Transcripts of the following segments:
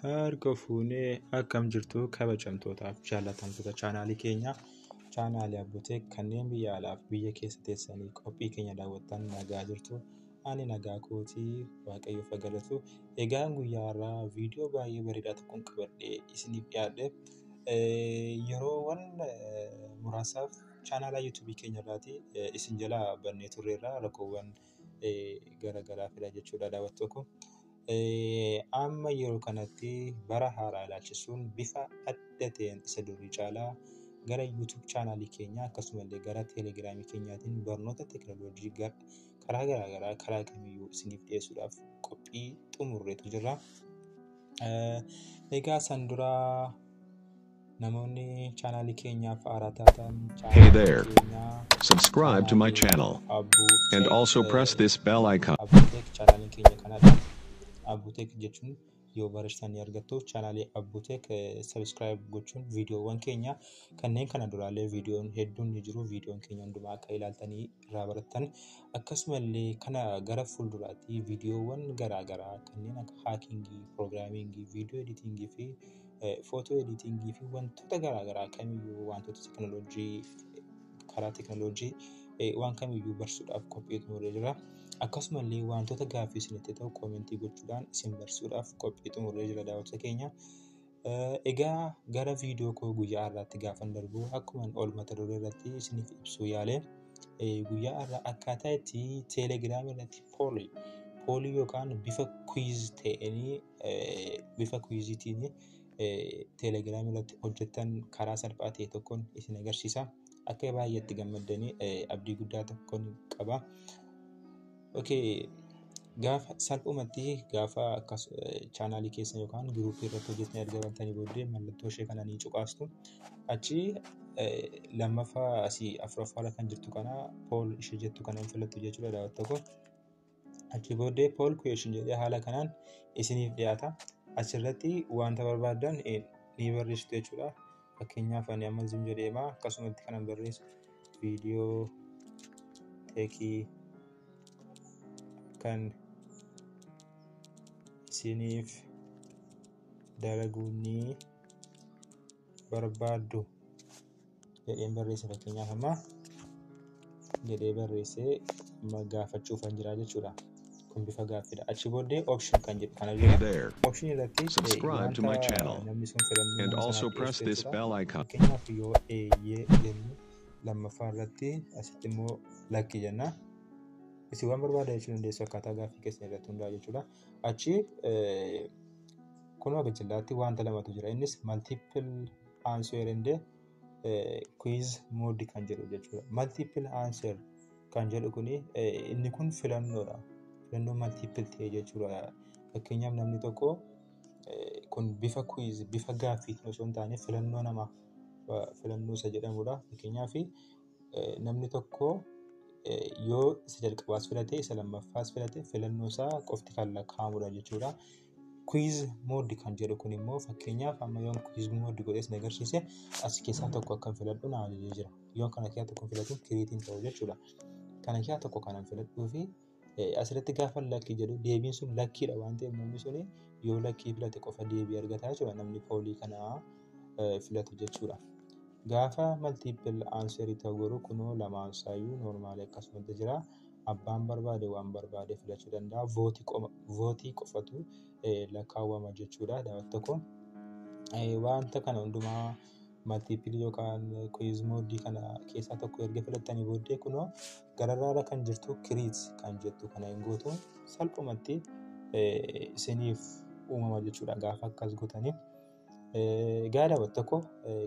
Harka fuunee akkam jirtu kabajamtootaaf jaallatamtoota chaanaalii keenyaa chaanaalii Abbuteek kanneen biyya alaaf biyya keessa teessanii qophii keenya daawwattan nagaa jirtu. ani nagaa kooti waaqayyoof haa galatu. Egaan guyyaa har'aa viidiyoo baay'ee bareedaa tokkon qabadhee isiniif dhiyaadhe. Yeroowwan muraasaaf chaanaalaa yuutuubii keenya irraati isin jalaa bannee turreerra rakkoowwan garaagaraa fida jechuudha daawwattoo koo. Amma yeroo kanatti bara haaraa ilaalchisuun bifa adda ta'een isa durii caalaa gara yuutuub chaanaalii keenyaa akkasumallee gara teelegiraamii keenyaatiin barnoota teekinooloojii gara karaa garaa garaa karaa kamiyyuu isiniif dhiyeessuudhaaf qophii xumurreetu jirra. Egaa san dura namoonni chaanaalii keenyaaf haaraa taatan Hey there. Subscribe to my channel and also press this bell icon. Abuuteek chaanaaliin keenya kanadha. Abuuteek jechuun yoo barreessitan ni argattu. Chaanaalii Abbuuteek sabiskiraayib gochuun viidiyoowwan keenya kanneen kana duraallee viidiyoon hedduun ni jiru. Viidiyoon keenya hundumaa akka ilaaltanii irraa barattan akkasumallee kana gara fuulduraatti viidiyoowwan garaagaraa kanneen akka haakingii, piroogiraamingii, viidiyoo editingii fi footoo editingii fi wantoota garaagaraa kamiyyuu wantoota teekinooloojii karaa teknooloojii waan kamiyyuu barsiisuudhaaf qophii xumuree jira. Akkasuma illee wantoota gaaffii isinitti ta'u koomentii gochuudhaan isin barsiisuudhaaf qophii xumuree jira daawwattoota keenya. Egaa gara viidiyoo koo guyyaa har'aatti gaafan darbu akkuma ol mata duree irratti isiniif ibsuu yaale guyyaa har'aa akkaataa itti teelegiraamii irratti poolii poolii yookaan bifa kwiiz ta'een bifa kwiiziitiin teelegiraam irratti hojjettan karaa salphaa ta'e tokkoon isin agarsiisa. Akka baay'eetti gammaddanii abdii guddaa tokkoon qaba. Gaafa salphumatti gaafa akkas chaanaalii keessa yookaan giruuppii irratti hojjetanii erga bantanii booddee mallattoo ishee kana ni cuqaastu. Achi lammaffaa asii afuraffaa irra kan jirtu kana pool ishee jettu kana filattu jechuudha daawwattoo koo. Achi booddee poll question jedhee haala kanaan isiniif dhiyaata. Achirratti wanta barbaaddan ni barreessitu jechuudha. Fakkeenyaaf ani amma zoom jedheema akkasumatti kanan barreessu viidiyoo teekii kan isiniif dalaguun ni barbaaddu. jedheen barreesse fakkeenyaaf ammaa jedhee barreessee gaafachuuf kan jira jechuudha. Kun bifa gaaffiidha. Achi booddee option kan jedhu kana Hey jira. there. Option irratti Subscribe to my wanta channel namni sun filannoo and nama also sanaaf press dhiyeessu this jechuudha. bell icon. Fakkeenyaaf yoo eeyyee jennu lammaffaa irratti asitti immoo lakki jenna. Isin waan barbaada jechuu dandeessu akkaataa gaaffii keessan irratti hundaa'e jechuudha. Achi kunoo gajillaatti wanta lamatu jira. Innis multiple answer and quiz mode kan jedhu jechuudha. Multiple answer kan jedhu kun inni kun filannoodha. Filannoo multiple ta'e jechuudha. Fakkeenyaaf namni tokko kun bifa quiz bifa gaaffiitiin osoo hin taane filannoo namaa filannoo isa jedhamudha. Fakkeenyaaf namni tokko yoo isa jalqabaas filate isa lammaffaas filate filannoo isaa qofti kan lakkaa'amudha jechuudha. Quiz mode kan jedhu kun immoo fakkeenyaaf amma yoon quiz mode godhee isin agarsiise as keessaa tokko akkan filadhu na ajajee jira. Yoo kana keessaa tokko filadhu create hin ta'u jechuudha. Kana keessaa tokko kanan filadhuu fi asirratti gaafa lakkii jedhu deebiin sun lakkiidha waan ta'eef namni sun yoo lakkii filate qofa deebii argata jechuudha namni poolii kana filatu jechuudha. Gaafa multiple answer ta'u garuu kunoo lamaan isaayyuu normaali akkasumatti jira. abbaan barbaade waan barbaade filachuu danda'a. Vootii qofatu lakkaawwama jechuudha daawwatu tokko. Wanta kana hundumaa maltiipilii yookaan kuwiiz moodii kana keessaa tokko erga filattanii booddee kunoo gararraarra kan jirtu kiriit kan jettu kana hin gootu salphumatti isiniif uumama jechuudha gaafa akkas gootaniif. Egaa daawwattoota koo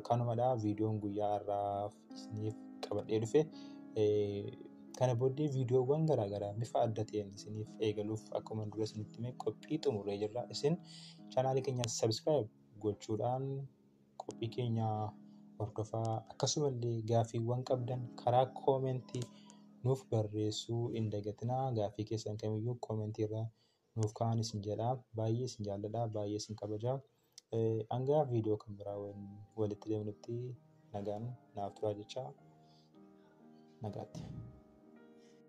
kanumadha viidiyoon guyyaa har'aaf isiniif qabadhee dhufe. Kana booddee viidiyoowwan garaagaraa bifa adda ta'een isiniif eegaluuf akkuma dura isinitti hime qophii xumurree jirra. Isin chaanaalii keenya sabiskiraayib gochuudhaan qophii keenya hordofaa akkasumallee gaaffiiwwan qabdan karaa koomentii nuuf barreessuu hin dagatinaa gaaffii keessan kamiyyuu koomentii irraa nuuf ka'aan isin jedha baay'ee isin jaalladha baay'ee isin kabaja hangaa viidiyoo kan biraa walitti deemnutti nagaan naaf turaa jecha nagaatti.